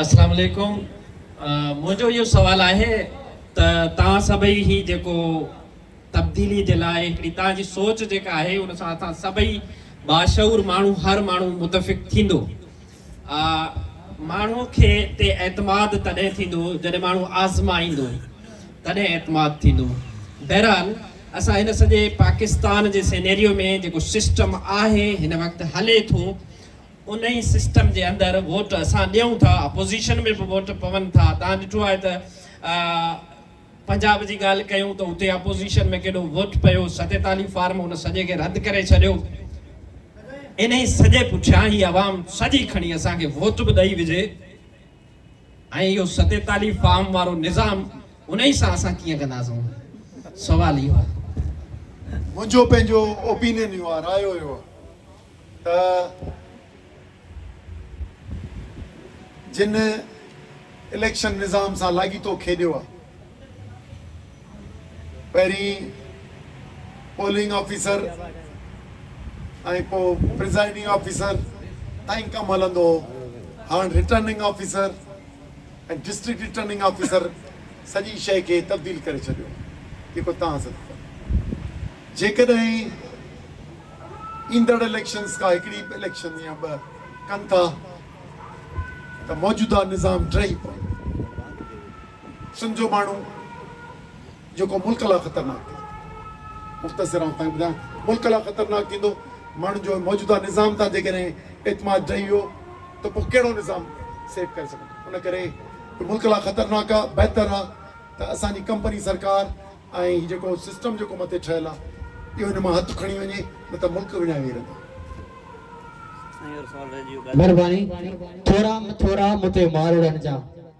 السلام عليڪم منهنجو اهو سوال آهي ته توهان سڀئي هي جيڪو تبديلي جي لاء هڪڙي توهان جي سوچ جيڪا آهي ان سان اسان سڀئي باشعور ماڻهو هر ماڻهو متفق ٿيندو ماڻهو کي تي اعتماد تڏهن ٿيندو جڏهن ماڻهو آزمائيندو تڏهن اعتماد ٿيندو بهرحال اسان هن سڄي پاڪستان جي سينيريو ۾ جيڪو سسٽم آهي هن وقت هلي ٿو انهي سسٽم جي اندر ووٽ اسان ڏيون ٿا اپوزيشن ۾ به ووٽ پون ٿا تان ڏٺو آهي ته پنجاب جي ڳالهه ڪيون ته اتي اپوزيشن ۾ ڪيڏو ووٽ پيو ستيتاليهه فارم ان سڄي کي رد ڪري ڇڏيو انهي سڄي پٺيان هي عوام سڄي کڻي اسان کي ووٽ به ڏئي وجهي ۽ اهو ستيتاليهه فارم وارو نظام انهي سان اسان ڪيئن ڪنداسون سوال اهو آهي منهنجو پنهنجو اوپينين اهو آهي راء اهو آهي ته جن اليڪشن نظام سان لاڳيتو کيڏيو آهي، پهرين پولنگ آفيسر ۽ پوء پريزائيڊنگ آفيسر تائين ڪم هلندو هو، هاڻ returning officer ۽ district returning officer سڄي شيء کي تبديل ڪري ڇڏيو آهي، جيڪو توهان سڏ ٿا. جيڪڏهن ايندڙ اليڪشنز ڪا هڪڙي اليڪشن يا ٻه ڪن ٿا ته موجوده نظام ڊهي پوندو. سنڌ جو ماڻهو جيڪو ملڪ لا خطرناڪ ٿيندو. مختصر آئون تائين ٻڌايان ملڪ لا خطرناڪ ٿيندو. ماڻهن جو موجوده نظام تان جيڪڏهن اعتماد ڊهي ويو ته پوء ڪهڙو نظام سيف ڪري سگهندو. ان ڪري جو ملڪ لا خطرناڪ آ بهتر آ ته اسان جي ڪمپني سرڪار ۽ هي جيڪو سسٽم جيڪو مٿي ٺهيل آ اهو هن مان هٿ کڻي وڃي نه ته ملڪ وڃائي ويهي رهندو. مھرباني ٿورا ٿورا مون تي مارڙن جا.